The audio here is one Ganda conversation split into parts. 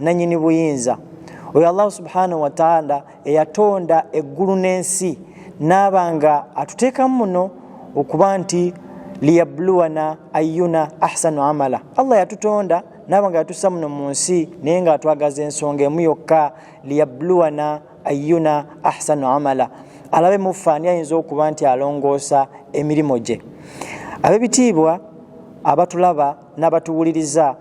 nanyini buyinza oyo allahu subhanahu wataala eyatonda eggulu n'ensi naaba nga atuteekamu muno okuba nti liyabluwana ayuna ahsanu amala allah yatutonda naaba nga yatusa muno mu nsi naye nga atwagaza ensonga emu yokka liyabluwana ayuna ahsanu amala alabe muffe ani ayinza okuba nti alongoosa emirimu gye abebitiibwa abatulaba n'abatuwuliriza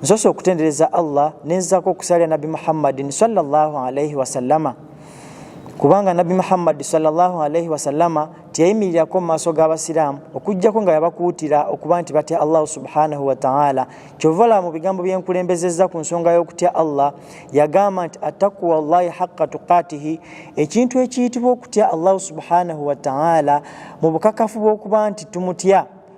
nsoose okutendereza allah nenzako okusalira nabbi muhammadin salllahu alaihi wasallama kubanga nabbi muhammadi salllahu alaihi wasallama teyayimirirako mu maaso g'abasiraamu okugjako nga yabakuutira okuba nti batya allahu subhanahu wataala kyova olaba mu bigambo byenkulembezezza ku nsonga y'okutya allah yagamba nti atakuwa llahi haqa tuqatihi ekintu ekiyitibwa okutya allahu subhanahu wataala mu bukakafu bw'okuba nti tumutya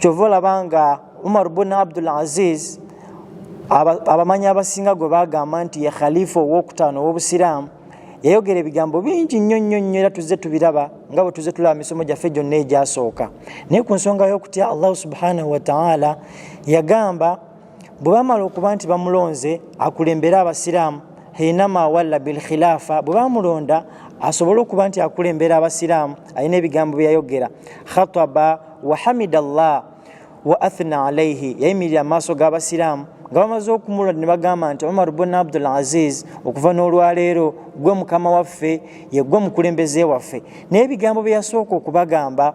kyova olaba nga umar bun abdul aziz abamanyi abasinga gwe bagamba nti ye khalifa owokutaano owobusiraamu yayogera ebigambo bingi nnyo nnyo nnyo era tuzze tubiraba nga bwe tuzze tulaba misomo gyaffe gyonna egyasooka naye ku nsonga y'okutya allahu subhanahu wataala yagamba bwe bamala okuba nti bamulonze akulembere abasiraamu hinama walla bilkhilafa bwe bamulonda asobole okuba nti akulembera abasiraamu alina ebigambo byeyayogera khataba wahamida llah wa athna alaihi yayimirira amaaso g'abasiraamu nga bamaze okumulwa ne bagamba nti omar bun abdul aziz okuva n'olwaleero gwe mukama waffe yegwe omukulembeze waffe naye ebigambo bye yasooka okubagamba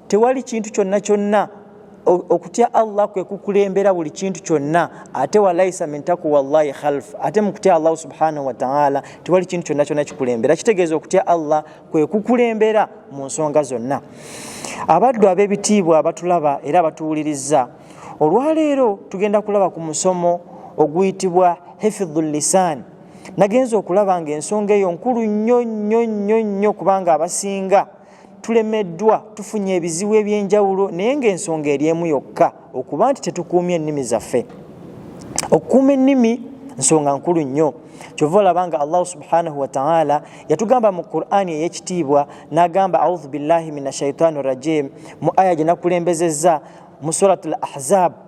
tewali kintu kyonna kyonna okutya allah kwe kukulembera buli kintu kyonna ate walaisa min takuwa llahi khalf ate mukutya allahu subhanahu wataala tewali kintu kyonna kyonna kikulembera kitegeeza okutya allah kwe kukulembera mu nsonga zonna abaddu ab'ebitiibwa abatulaba era abatuwuliriza olwaleero tugenda kulaba ku musomo oguyitibwa hifidhu lisan nagenza okulaba nga ensonga eyo nkulu nnyo nnyo nnyo nnyo kubanga abasinga tulemeddwa tufunye ebizibu eby'enjawulo naye ng'ensonga eri emu yokka okuba nti tetukuumye ennimi zaffe okukuuma ennimi nsonga nkulu nnyo kyova olaba nga allahu subhanahu wataala yatugamba mu qurani ey'ekitiibwa n'agamba audhu billahi min ashaitani rajim mu aya gye nakulembezezza mu surat al ahzabu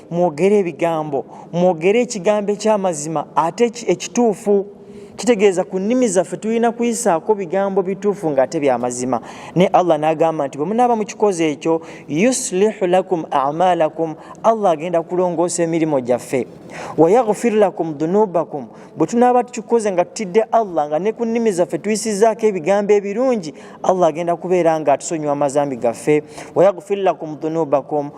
mwogere ebigambo mwogere ekigambo eky'amazima ate ekituufu kitegeeza ku nnimi zaffe tulina kuyisaako bigambo bituufu ng'ate bya mazima naye allah n'agamba nti bwe munaaba mu kikozi ekyo yuslihu lakum amalakum allah agenda kulongoosa emirimu gyaffe wayaghfir lakum dunubakum bwe tunaaba tukikoze nga tutidde allah nga ne ku nnimi zaffe tuyisizaako ebigambo ebirungi allah agenda kubeera nga atusonyiwa amazambi gaffe wayaghfir lakum dunubakum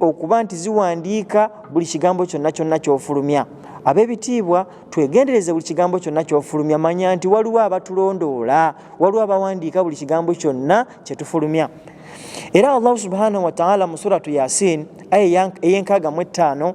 okuba nti ziwandiika buli kigambo kyonna kyonna kyofulumya abebitiibwa twegendereze buli kigambo kyonna kyofulumya manya nti waliwo abatulondoola waliwo abawandiika buli kigambo kyonna kyetufulumya era allahu subhanahu wataala mu suratu yasin aya eyenkaaga mu ettaano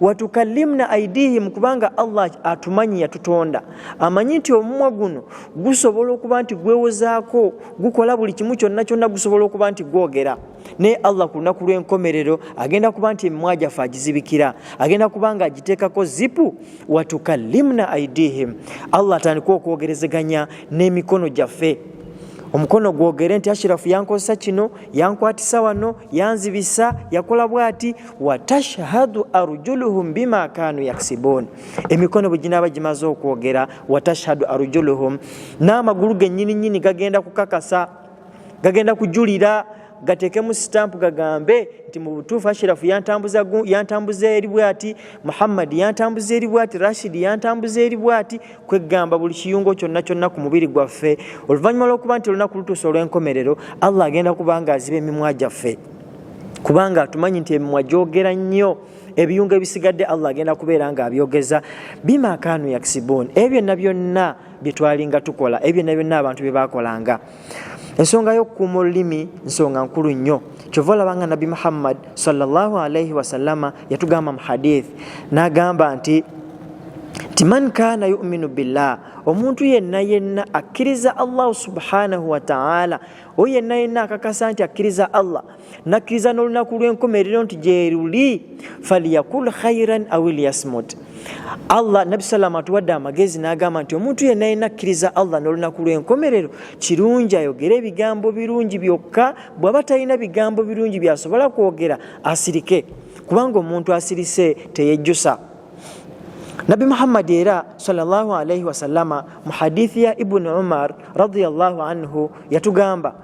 watukallimna aidihim kubanga allah atumanyi yatutonda amanyi nti omumwa guno gusobola okuba nti gwewozaako gukola buli kimu kyonna kyonna gusobola okuba nti gwogera naye allah ku lunaku lw'enkomerero agenda kuba nti emimwa gyaffe agizibikira agenda kuba nga agiteekako zipu watukallimna aidihim allah atandika okwogerezeganya n'emikono gyaffe omukono gwogere nti ashirafu yankozesa kino yankwatisa wano yanzibisa yakola bwati watashhadu arjuluhum bima kanu yaksibun emikono bwe ginaaba gimaze okwogera watashhadu arjuluhum n'amagulu gennyini nnyini gagenda kukakasa gagenda kujulira gateekemu sitampu gagambe nti mu butuufu ashirafu yantambuza eri bwati muhammadi yantambuza eri bwati rashidi yantambuza eri bwati kweggamba buli kiyungo kyonna kyonna ku mubiri gwaffe oluvannyuma lw'okuba nti olunaku lutuusa olw'enkomerero allah agenda kubanga aziba emimwa gyaffe kubanga atumanyi nti emimwa gyogera nnyo ebiyungo ebisigadde allah agenda kubeera nga abyogeza bimakanu yaksibun ebyo byonna byonna bye twalinga tukola ebyo byonna byonna abantu bye baakolanga ensonga y'okukuuma olulimi nsonga nkulu nnyo kyova olaba nga nabbi muhammad salllahu alaihi wasallama yatugamba mu hadith n'agamba nti nti man kaana yuminu billah omuntu yenna yenna akkiriza allahu subhanahu wataala oyo yenna yenna akakasa nti akkiriza allah nakkiriza n'olunaku lw'enkomerero nti gyeruli faliyakul khairan awiliyasmut allah nabi salama atuwadde amagezi n'agamba nti omuntu yenna yenna akkiriza allah n'olunaku lw'enkomerero kirungi ayogere ebigambo birungi byokka bw'aba talina bigambo birungi byasobola kwogera asirike kubanga omuntu asirise teyejjusa nabi muhammadi era sallallahu alaihi wasallama mu hadithi ya ibuni umar radiallahu anhu yatugamba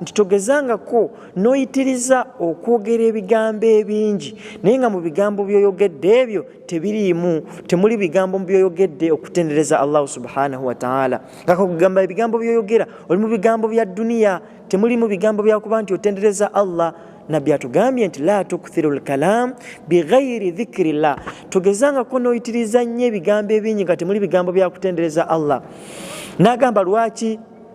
nti togezangako n'oyitiriza okwogera ebigambo ebingi naye nga mu bigambo byoyogedde ebyo tebiriimu temuli bigambo byoyogedde okutendereza allahu subhanahu wataala ngakugamba ebigambo byoyogera oli mu bigambo bya duniya temulimu bigambo byakuba nti otendereza allah nabbi atugambye nti la tukthiru lkalam bighairi dhikiri llah togezangako n'oyitiriza nnyo ebigambo ebingi nga temuli bigambo byakutendereza allah nagamba lwaki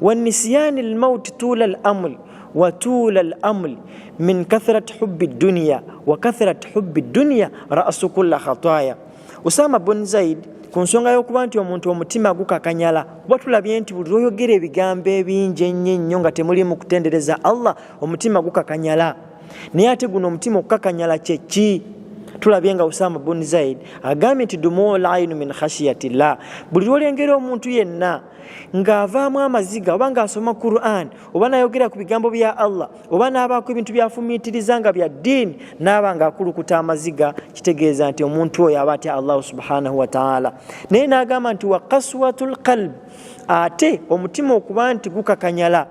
wanisiyani lmauti tula lamul watula lamul min kathrati hubi dduniya wa kathrati hubi dduniya rasu kulla khataya usama bun zaid ku nsonga y'okuba nti omuntu omutima gukakanyala kuba tulabye nti buli lwoyogera ebigambo ebingi ennyo ennyo nga temulimu kutendereza allah omutima gukakanyala naye ate guno omutima okukakanyala kyeki tulabye nga usama bun zaid agambye nti dumuul ainu min khashiyatillah buli lwolengera omuntu yenna ng'avaamu amaziga oba ng'asoma quran oba nayogera ku bigambo bya allah oba n'abaako ebintu byafumiitiriza nga bya ddiini n'aba ng'akulukuta amaziga kitegeeza nti omuntu oyo aba atya allahu subhanahu wataala naye n'agamba nti wa kaswatu lqalb ate omutima okuba nti gukakanyala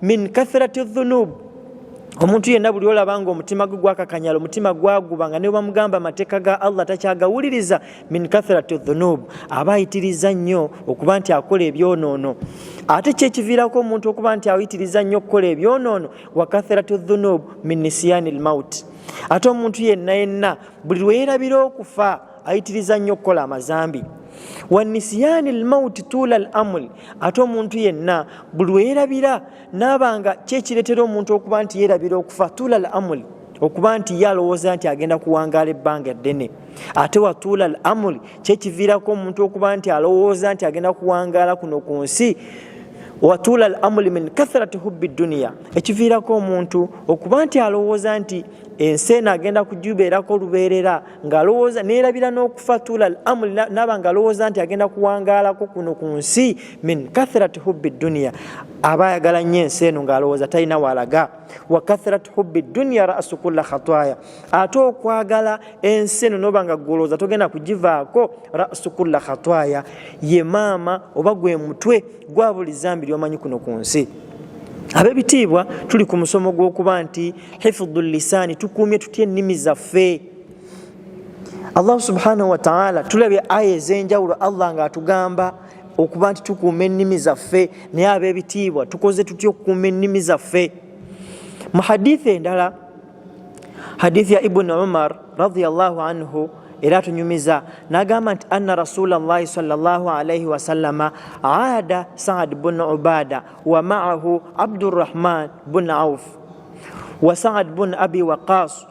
min kathrati dhunubu omuntu yenna buli olaba nga omutima gwe gwakakanyala omutima gwaguba nga nebamugamba amateeka ga allah takyagawuliriza min kathrati dhunub aba ayitiriza nnyo okuba nti akola ebyonoono ate kyekiviirako omuntu okuba nti ayitiriza nnyo okukola ebyonoono wa kathrati dhunub min nisiyani lmaut ate omuntu yenna yenna buli lweyerabira okufa ayitiriza nnyo okukola amazambi wa nisiyani lmauti tuula l amul ate omuntu yenna buli lweyerabira naaba nga kyekireetera omuntu okuba nti yeerabira okufa tuula al amuli okuba nti ye alowooza nti agenda kuwangaala ebbanga eddene ate watuula al amuli kyekiviirako omuntu okuba nti alowooza nti agenda kuwangaala kuno ku nsi watuula al amuli min kathrati hubbi duniya ekiviirako omuntu okuba nti alowooza nti ensi eno agenda kugibeerako lubeerera ngaalowooza neerabira n'okufa tuula al amuli naaba ngaalowooza nti agenda kuwangaalako kuno ku nsi min kathrati hubbi dunia aba ayagala nnyo ensi eno ng'alowooza talina waalaga wa kathrati hubbi dunia rasu kulla khatwaya ate okwagala ensi eno noba nga gwolowooza togenda kugivaako rasu kulla khatwaya ye maama oba gwe mutwe gwa buli zambi lyomanyi kuno ku nsi abebitiibwa tuli ku musomo gw'okuba nti hifudhu lisaani tukuumye tutya ennimi zaffe allah subhanahu wataala tulabye aya ez'enjawulo allah ng'atugamba okuba nti tukuuma ennimi zaffe naye ab'ebitiibwa tukoze tutya okukuuma ennimi zaffe mu hadithi endala hadithi ya ibuni umar radiallahu anhu era tunyumiza nagamba nti anna rasulllahi salllahalaihi wasalama ada saad bun ubada wa maahu abdurahman bun auf wa saad bun abi waqas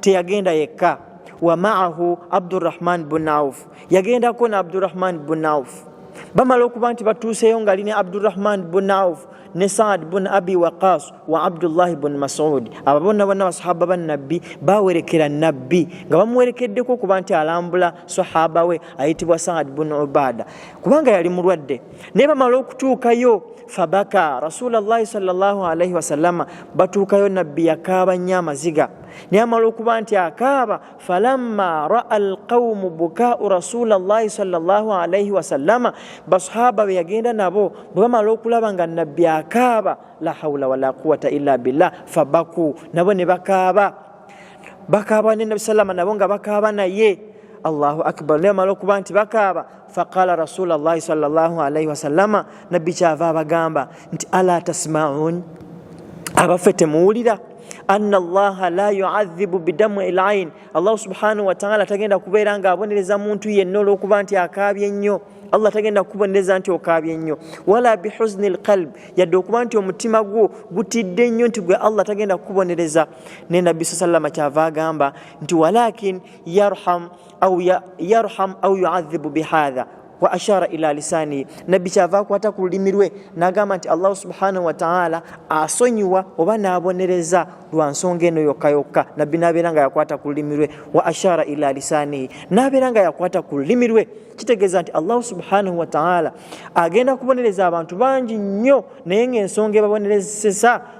teyagenda yekka wamaahu abdurahman bun auf yagendako ne abdurahman bun auf bamala okuba nti batuuseeyo nga ali ne abdurahman bun auf ne saad bun abi waqas wa abdullahi bun masudi abo bonna bonna basahaba ba nabbi bawerekera nabbi nga bamuwerekeddeko okuba nti alambula sahaba we ayitibwa saad bun ubada kubanga yali mulwadde naye bamala okutuukayo fabaka rasulllahi salllahalaihi wasalama batuukayo nabbi yakaaba nnyo amaziga naye amala okuba nti akaaba falamma raa alqaumu bukaau rasulllahi salllahalaihi wasalama basahaba be yagenda nabo bwe bamala okulaba nga nabbi akaaba la haula wala quwata illa billah fabaku nabo ne bakaaba bakaaba ne nabi salama nabo nga bakaaba naye allahu akbar naye amala okuba nti bakaaba faqala rasulallahi salllahu alaihi wasallama nabbi kyava abagamba nti ala tasmaun abaffe temuwulira anna allaha la yuadhibu bidamu elain allahu subhanahu wataala tagenda kubeera nga abonereza muntu yenna olwokuba nti akaabye nnyo allah tagenda kukubonereza nti okaabye nnyo wala bihuzni lqalb yadde okuba nti omutima gwo gutidde nnyo nti gwe allah tagenda kukubonereza naye nabbi sa sallama kyava agamba nti walakin yarham au ya, yarham au yuadhibu bihadha wa ashara ila lisani nabbi kyava akwata ku lulimi lwe nagamba nti allahu subhanahu wataala asonyiwa oba nabonereza lwa nsonga eno yokka yokka nabbi nabeera nga yakwata ku lulimi lwe wa ashara ila lisanihi nabeera nga yakwata ku lulimi lwe kitegeeza nti allahu subhanahu wataala agenda kubonereza abantu bangi nnyo naye ngaensonga ebabonerezesa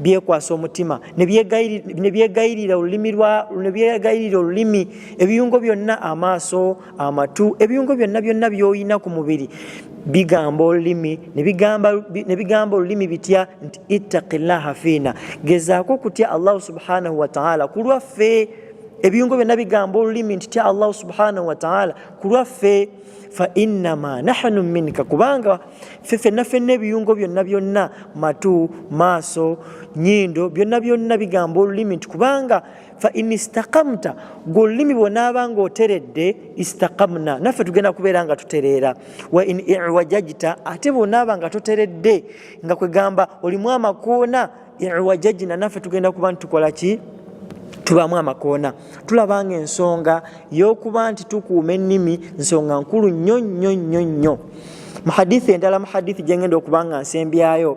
byekwasa omutima ne byegayirira olulimi ne byegayirira olulimi ebiyungo byonna amaaso amatu ebiyungo byonna byonna byolina ku mubiri bigamba olulimi ne bigamba olulimi bitya nti ittaqillaha fiina gezaako okutya allahu subhanahu wataala ku lwaffe ebiyungo byonna bigamba olulimi nti tya allahu subhanahu wataala ku lwaffe fa innama nahnu minka kubanga ffe fenna fenna ebiyungo byonna byonna matu maaso nyindo byonna byonna bigamba olulimi nti kubanga fa in istakamta gwe olulimi bwonaaba nga oteredde istakamna naffe tugenda kubeera nga tutereera wa in iwajajita ate bwonaaba nga toteredde nga kwegamba olimu amakoona iwajajina naffe tugenda kuba nti tukola ki tubaamu amakoona tulaba nga ensonga y'okuba nti tukuuma ennimi nsonga nkulu nnyo nnyo nnyo nnyo mu hadithi endala mu hadithi gyengenda okuba nga nsembyayo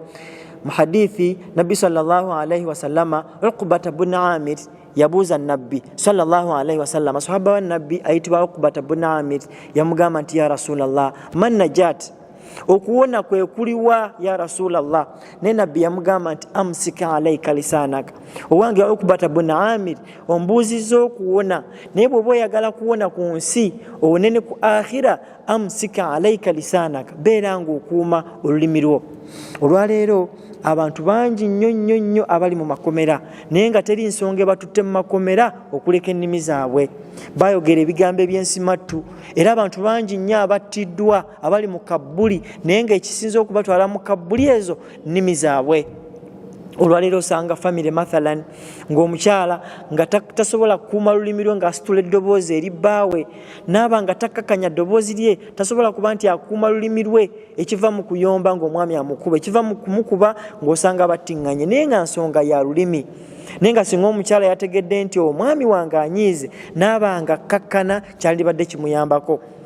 mu hadithi nabbi salaalaihi wasalama ukubata bun amir yabuuza nabbi salaalaihi wasalama sahaba wa nabbi ayitibwa ukubata bun amir yamugamba nti ya rasulllah man najat okuwona kwe kuliwa ya rasulllah naye nabbi yamugamba nti amsika alaika lisanaka owange ukubata bun amir ombuuziza okuwona naye bwoba oyagala kuwona ku nsi owone ne ku akhira amsika alaika lisanaka beera nga okuuma olulimi lwo olwaleero abantu bangi nnyo nnyo nnyo abali mu makomera naye nga teri nsonga ebatutte mu makomera okuleka ennimi zaabwe bayogera ebigambo eby'ensimattu era abantu bangi nnyo abattiddwa abali mu kabbuli naye ngaekisinza okubatwala mu kabbuli ezo nnimi zaabwe olwaleero osanga famiry mathalan ngaomukyala nga tasobola kukuuma lulimi lwe ngaasitula eddoboozi eri bbaawe naaba nga takkakanya ddoboozi lye tasobola kuba nti akuuma lulimi lwe ekiva mu kuyomba ngaomwami amukuba ekiva mu kumukuba ngaosanga battiŋŋanye naye nga nsonga ya lulimi naye nga singa omukyala yategedde nti omwami wange anyiize naaba nga kkakkana kyalibadde kimuyambako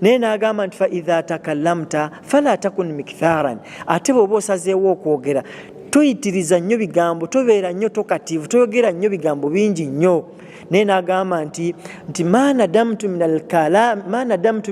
naye n'agamba nti faidha takalamta fala takun miktharan ate bweoba osazeewo okwogera toyitiriza nnyo bigambo tobeera nnyo tokativu toyogera nnyo bigambo bingi nnyo naye n'agamba nti nti manadamtu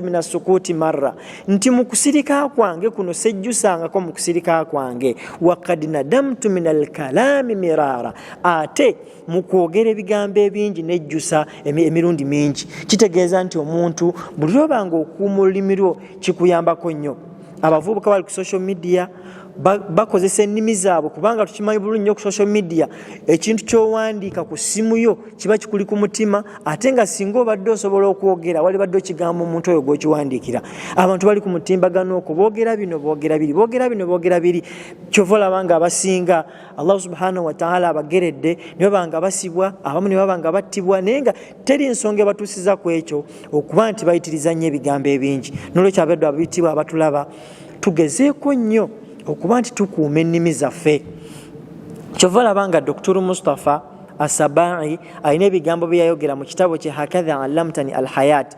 min asukuuti marra nti mu kusirika kwange kuno sejjusangako mu kusirika kwange wakad nadamtu min alkalaami miraara ate mu kwogera ebigambo ebingi nejjusa emirundi mingi kitegeeza nti omuntu buli lwoba nga okuuma olulimi lwo kikuyambako nnyo abavubuka bali ku social media bakozesa ennimi zaabwe kubanga tukimanyi bulungi nyo ku social media ekintu kyowandiika ku ssimu yo kiba kikuli ku mutima ate nga singa obadde osobola okwogera wali badde okigambo omuntu oyo gwokiwandiikira abantu bali ku mutimbagano okwo boogera bino boogera biri boogera bino boogera biri kyova olaba nga abasinga allah subhanahu wataala abageredde nebaba nga basibwa abamu nebaba nga battibwa naye nga teri nsonga ebatuusiza ku ekyo okuba nti bayitiriza nnyo ebigambo ebingi nolwekyo abeddo abitibwa abatulaba tugezeeko nnyo okuba nti tukuuma ennimi zaffe kyova laba nga doktor mustapha asabai alina ebigambo byeyayogera mu kitabo kye hakadha alamtani alhayat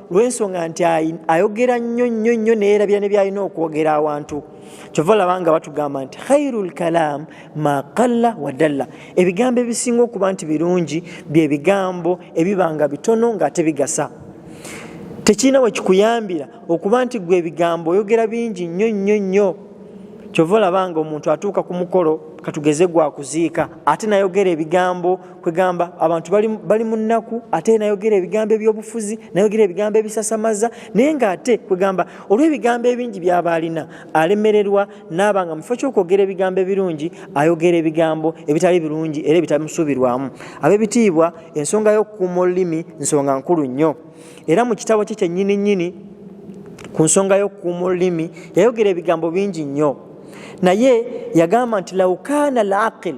lwensonga nti ayogera nnyo nnyo nnyo neyerabira ne byalina okwogera awantu kyova olaba nga batugamba nti khairu lkalaam ma qalla wadalla ebigambo ebisinga okuba nti birungi byebigambo ebiba nga bitono ngaate bigasa tekirina wekikuyambira okuba nti gwe ebigambo oyogera bingi nnyo nnyo nnyo kyova olaba nga omuntu atuuka ku mukolo katugeze gwakuziika ate nayogera ebigambo kwegamba abantu bali mu nnaku ate nayogera ebigambo ebyobufuzi nayogera ebigambo ebisasamaza naye nga ate kwegamba olw'ebigambo ebingi byaba alina alemererwa naaba nga mufo kyokwogera ebigambo ebirungi ayogera ebigambo ebitali birungi era ebitamusuubirwamu abebitiibwa ensonga y'okukuuma olulimi nsonga nkulu nnyo era mu kitabo kye kyennyini nnyini ku nsonga y'okukuuma olulimi yayogera ebigambo bingi nnyo naye yagamba nti laukaana laqil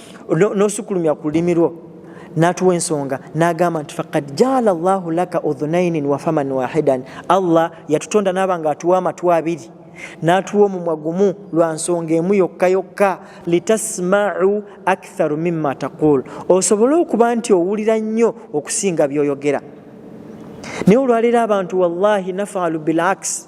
nosukulumya ku lulimi lwo natuwa ensonga nagamba nti fakad jaala llahu laka udhunainin wafaman wahidan allah yatutonda naba nga atuwa amatu abiri natuwa omumwa gumu lwa nsonga emu yokka yokka litasmau aktharu mima taqul osobole okuba nti owulira nnyo okusinga byoyogera naye olwaleero abantu wallahi nafalu bilaks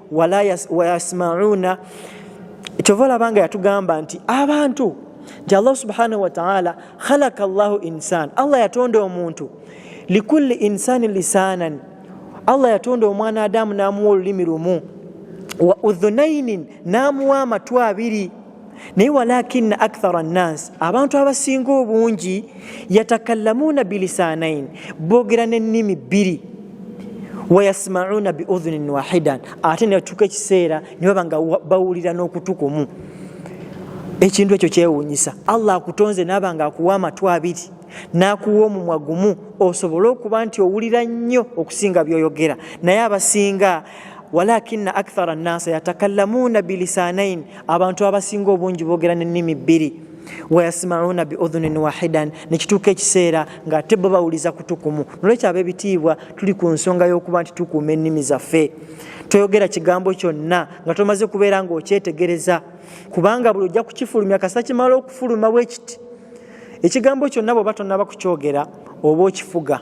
wayasmauna kyova olaba nga yatugamba nti abantu nti allah subhanahu wataala khalaka llahu insan allah yatonda omuntu likulli insani lisanan allah yatonda omwana adamu namuwa olulimi lumu wa udhunainin namuwa amatu abiri naye walakina akthara nnansi abantu abasinga obungi yatakallamuuna bilisaanaini boogera n'ennimi bbiri wayasmauuna biudhunin wahidan ate nebatuuka ekiseera ne baba nga bawulira n'okutu kumu ekintu ekyo kyewuunyisa allah akutonze naaba nga akuwa amatu abiri n'akuwa omumwa gumu osobole okuba nti owulira nnyo okusinga byoyogera naye abasinga walakina akthara nnansa yatakallamuuna bilisaanaini abantu abasinga obungi boogera n'ennimi bbiri wayasimauna biudhunin wahidan nekituuka ekiseera nga ate bo bawuliza kutukumu nolwekyo abebitiibwa tuli ku nsonga y'okuba nti tukuuma ennimi zaffe toyogera kigambo kyonna nga tomaze kubeera nga okyetegereza kubanga buli ojja kukifulumya kasita kimala okufuluma bwekiti ekigambo kyonna bweoba tonaba kukyogera oba okifuga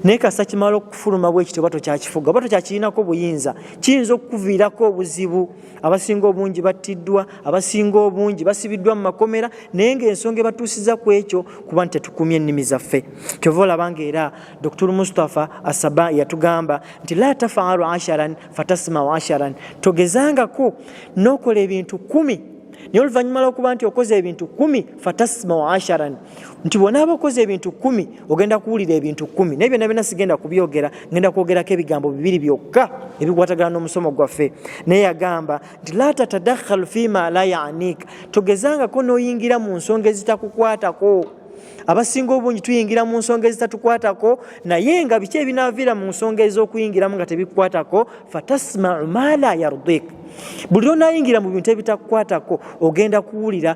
naye kasita kimala okufuluma bwekiti oba tokyakifuga oba tokyakirinako buyinza kiyinza okukuviirako obuzibu abasinga obungi battiddwa abasinga obungi basibiddwa mu makomera naye ngaensonga ebatuusiza ku ekyo kuba nti tetukumye ennimi zaffe kyova olaba nga era dr mustapha asaba yatugamba nti la tafaalu asharan fatasmau asharan togezangako nokola ebintu kumi naye oluvannyuma lwokuba nti okoze ebintu kumi fatasmau asharan nti bwonaaba okoze ebintu kumi ogenda kuwulira ebintu kumi naye byonna byonna sigenda kubyogera ngenda kwogerako ebigambo bibiri byokka ebikwatagana n'omusomo gwaffe naye yagamba nti la tatadakhalu fima la yanika togezangako n'oyingira mu nsonga ezitakukwatako abasinga obungi tuyingira mu nsonga ezitatukwatako naye nga biki ebinaaviira mu nsonga ez'okuyingiramu nga tebikukwatako fatasmau ma la yardik buli lwonayingira mu bintu ebitakukwatako ogenda kuwulira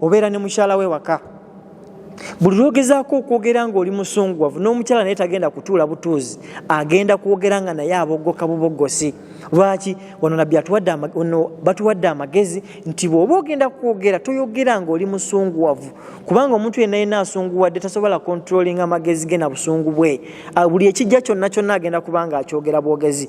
obeera ne mukyala we waka buli lwogezaako okwogera ngaoli musunguwavu n'omukyala naye tagenda kutuula butuuzi agenda kwogera nga naye abogoka bubogosi lwaki wano nabbi atuwaddeono batuwadde amagezi nti bw'oba ogenda kwogera toyogera ngaoli musunguwavu kubanga omuntu yenna yenna asunguwadde tasobola kontrolinga amagezi ge na busungu bwe ah, buli ekijja kyonna kyonna agenda kubanga akyogera bwogezi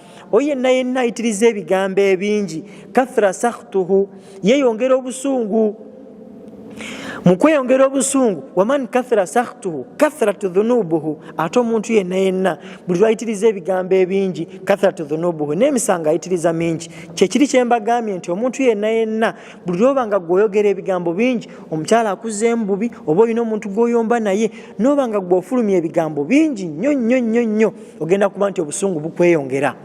oyo yenna yenna ayitiriza ebigambo ebingi kathra sakhtuhu yeyongera obusungu mu kweyongera obusungu waman kathra sakhtuhu kathrat dhunubuhu ate omuntu yenna yenna buli lwayitiriza ebigambo ebingi kathrat dhunubuhu n'emisango ayitiriza mingi kyekiri kyembagambye nti omuntu yenna yenna buli lwoba nga gweoyogera ebigambo bingi omukyala akuzeemu bubi oba olina omuntu gwoyomba naye noba nga gweofulumya ebigambo bingi nnyo nnyo nnyo nnyo ogenda kuba nti obusungu bukweyongera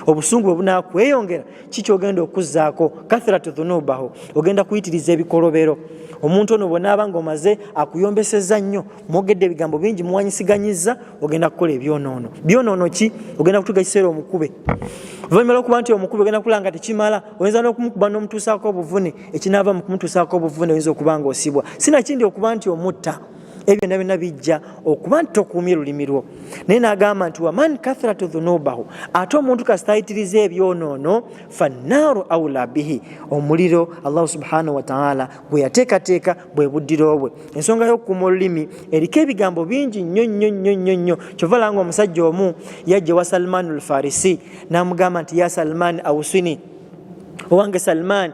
obusungu bwe bunakweyongera kikyogenda okuzzaako kathiratu dhunubaho ogenda kuyitiriza ebikolobero omuntu ono bwenaaba nga omaze akuyombeseza nnyo mwogedde ebigambo bingi muwanyisiganyiza ogenda kukola ebyonoono byonoono ki ogenda kutuga ekiseera omukube oluvanyuma lwokuba nti omukube ogenda kula nga tekimala oyinza nokumukuba nomutuusaako obuvune ekinaava mu kumutuusaako obuvune oyinza okuba nga osibwa sinakindi okuba nti omutta ebyo byonna byonna bijja okuba nti tokuumye lulimi lwo naye n'agamba nti waman kathratu dhunubahu ate omuntu kasitayitiriza ebyonoono fannaaru aula bihi omuliro allahu subhanahu wataala gwe yateekateeka bwe buddiro bwe ensonga y'okukuuma olulimi eriko ebigambo bingi nnyo nnyo nnyo nnyo nnyo kyova langa omusajja omu yajja wa salmaanu lfarisi n'amugamba nti ya salmaani ausini owange salmaani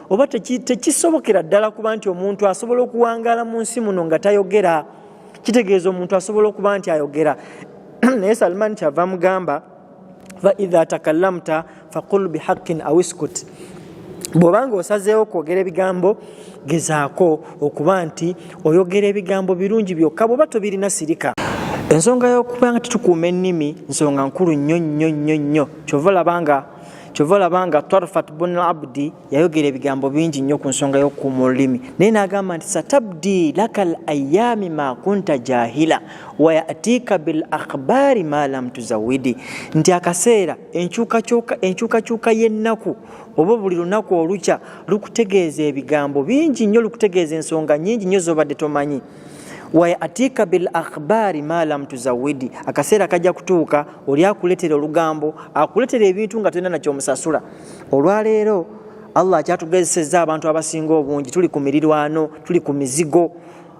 oba tekisobokera ddala kuba nti omuntu asobola okuwangaala mu nsi muno nga tayogera kitegeeza omuntu asobola okuba nti ayogera naye salman kyava mugamba faidha takallamta faqul bihaqin aw iskut bwobanga osazeewo okwogera ebigambo gezaako okuba nti oyogera ebigambo birungi byokka bwoba tobirina sirika ensonga yokuba nga tetukuuma ennimi nsonga nkulu nnyo nnyo nnyo nnyo kyova olabanga kyova olaba nga twarfat bun abdi yayogera ebigambo bingi nnyo ku nsonga y'okukuuma olulimi naye n'agamba nti satabdi laka l ayaami ma kunta jahila wayatiika bil akhbaari ma lam tuzawidi nti akaseera enkyukakyuka y'ennaku oba buli lunaku olukya lukutegeeza ebigambo bingi nnyo lukutegeeza ensonga nyingi nnyo z'obadde tomanyi wayatika bil akhbari ma lam tuzawidi, akaseera kajja kutuuka oli akuletera olugambo, akuletera ebintu nga tolina nakyo omusasula. Olwaleero Allah akyatugezesezza abantu abasinga obungi, tuli ku mirirwano, tuli ku mizigo.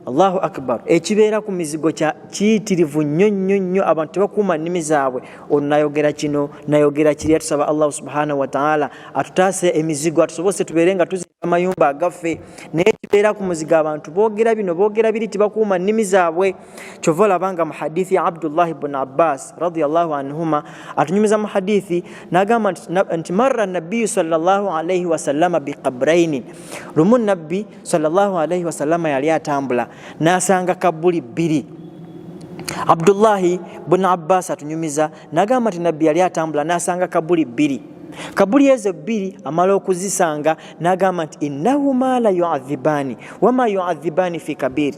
Allahu akbar, ekibeera ku mizigo kya kiyitirivu nnyo nnyo nnyo, abantu tebakuuma nnimi zaabwe. Ono nayogera kino nayogera kiri, atusaba Allah subhanahu wataala atutaase emizigo, atusobose tubeere nga tuzimba amayumba agaffe. naye kibeera ku muzigo abantu boogera bino boogera biri tibakuuma nnimi zaabwe kyova olabanga mu hadithi ya abdullahi bun abbas radiallahu anhuma atunyumiza mu hadithi nagamba nti marra nabiyu salllahu alaihi wasallama biqabraini lumu nabbi salllahu alaihi wasallama yali atambula nasanga kabbuli bbiri abdullahi bun abbas atunyumiza nagamba nti nabbi yali atambula nasanga kabbuli bbiri kabuli ezo bbiri amala okuzisanga nagamba nti innahuma la yuadhibaani wama yuadhibaani fi kabiri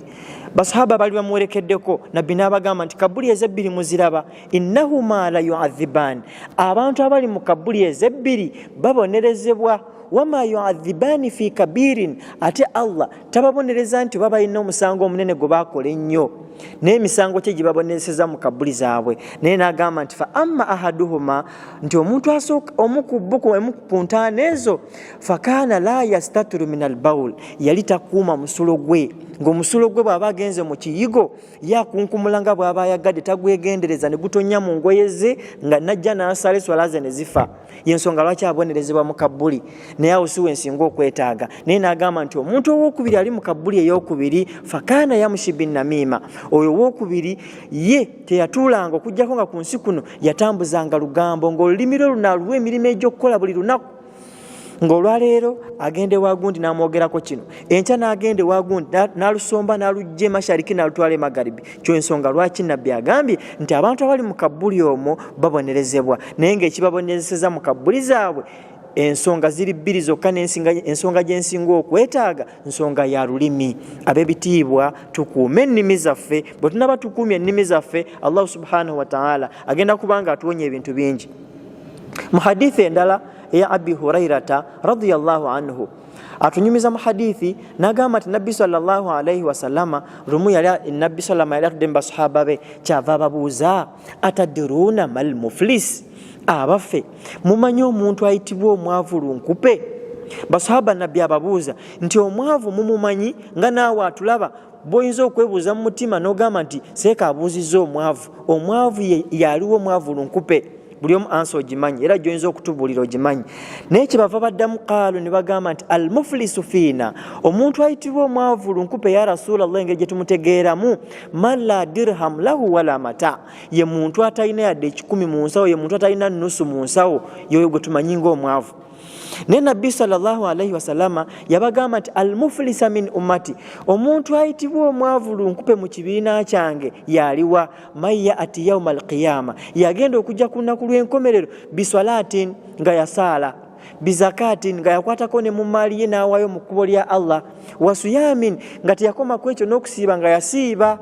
basahaba bali bamuwerekeddeko nabbi n'abagamba nti kabuli ezebbiri muziraba innahuma la yuadhibaani abantu abali mu kabuli ezebbiri babonerezebwa wama yuadhibaani fi kabirin ate allah tababonereza nti oba balina omusango omunene gwe bakola ennyo naye emisango kye gye babonerezeza mu kabuli zaabwe naye n'agamba nti fa amma ahaduhuma nti omuntu asooka omu ku bo ku ntaana ezo fakaana la yastatiru min albaul yali takuuma musulo gwe ng'omusulo gwe bw'aba agenze mu kiyigo yakunkumula nga bw'aba ayagadde tagwegendereza ne gutonya mu ngoye ze nga najja n'asala eswala ze ne zifa yensonga lwaki abonerezebwa mu kabbuli naye awo siwe nsinga okwetaaga naye n'agamba nti omuntu owokubiri ali mu kabbuli eyokubiri fakaana yamushi binnamiima oyo owokubiri ye teyatuulanga okujjako nga ku nsi kuno yatambuzanga lugambo ng'olulimi lwe lunaaluwa emirimu egy'okukola buli lunaku ng'olwaleero agenda ewagundi n'amwogerako kino enkya n'agenda ewagundi n'alusomba n'alujja emashariki n'alutwala emagaribi kyo ensonga lwaki nabbi agambye nti abantu abali mu kabbuli omwo babonerezebwa naye ng'ekibabonerezeseza mu kabbuli zaabwe ensonga ziri bbiri zokka ensonga gyensinga okwetaaga nsonga ya lulimi abebitiibwa tukuume ennimi zaffe bwe tunaba tukuumye ennimi zaffe allahu subhanahu wataala agenda kubanga atuwonya ebintu bingi mu hadithi endala eya abi hurairata radiallahu anhu atunyumiza mu hadithi nagamba nti nabbi salllahu alaihi wasalama lumu yali nabbi salama yali atudde mu basahaba be kyava ababuuza atadiruuna mal muflis abaffe mumanyi omuntu ayitibwa omwavu lunkupe basahaba nabbi ababuuza nti omwavu mumumanyi nga naawe atulaba boyinza okwebuuza mu mutima nogamba nti seeka abuuzizza omwavu omwavu yaliwo omwavu lunkupe buli omu ansa ogimanyi era gyoyinza okutubuulira ogimanyi naye kyebava baddamu kaalu ne bagamba nti al muflisu fiina omuntu ayitibwa omwavu lunkupe ya rasulallah engeri gyetumutegeeramu man la dirham lahu wala mata ye muntu atalina yadde ekikumi mu nsawo ye muntu atalina nusu mu nsawo yoyo gwe tumanyi ngaomwavu naye nabbi salllahalaihi wasalama yabagamba nti almufulisa min ummati omuntu ayitibwa omwavu lunkupe mu kibiina kyange yaliwa maya ati yauma alqiyama yagenda okujja ku lunaku lw'enkomerero biswalatin nga yasaala bizakatin nga yakwatako ne mu maali ye n'awaayo mu kkubo lya allah wasuyamin nga teyakomaku ekyo n'okusiiba nga yasiiba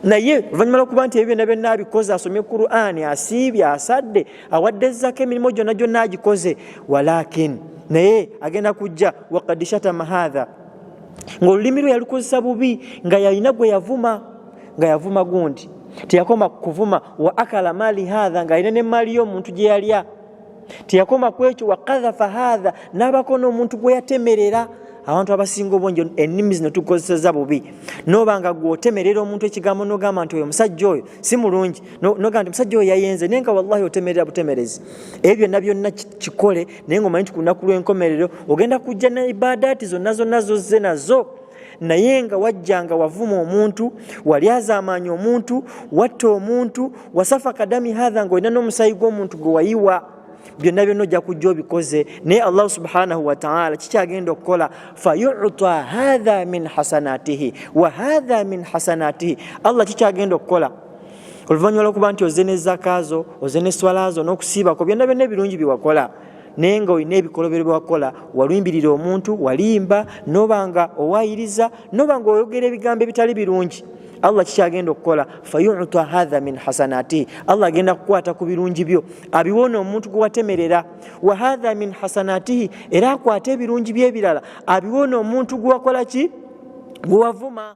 naye oluvannyuma lwokuba nti ebyo byonna byonna abikoze asomye qurani asiibye asadde awadde ezzako emirimu gyonna gyonna agikoze walakin naye agenda kujja wakad shatama hatha ngaolulimi lwe yalukozesa bubi nga yalina gwe yavuma nga yavuma gundi teyakoma kuvuma wa akala mali hatha nga alina nemaali yo omuntu gye yalya teyakoma ku ekyo wakadhafa hadha n'abako n'omuntu gwe yatemerera abantu abasinga obungi ennimi zino tukozeseza bubi noba nga gweotemerera omuntu ekigambo nogamba nti oyo omusajja oyo si mulungi nogamba nti omusajja oyo yayenze naye nga wallahi otemerera butemerezi ebyo byonna byonna kikole naye ngaomanyi nti ku lunaku lw'enkomerero ogenda kujja ne ibaadaati zonna zonna zozze nazo naye nga wajjanga wavuma omuntu walyazaamaanya omuntu watta omuntu wasafa kadami hatha nga olina n'omusaayi gw'omuntu gwe wayiwa byonna byonna ojja kujja obikoze naye allahu subhanahu wataala kikyagenda okukola fayuta hatha min hasanatihi wa hatha min hasanatihi allah kikyagenda okukola oluvannyuma lwokuba nti oze nezakaazo oze neswalazo n'okusiibako byonna byonna ebirungi byewakola naye nga olina ebikolobero byewakola walumbirira omuntu walimba noba nga owayiriza noba nga oyogera ebigambo ebitali birungi allah kikyagenda okukola fayuta hatha min hasanatihi allah agenda kukwata ku birungi byo abiwona omuntu gwewatemerera wa hatha min hasanatihi era akwate ebirungi byebirala abiwona omuntu gwewakola ki gwewavuma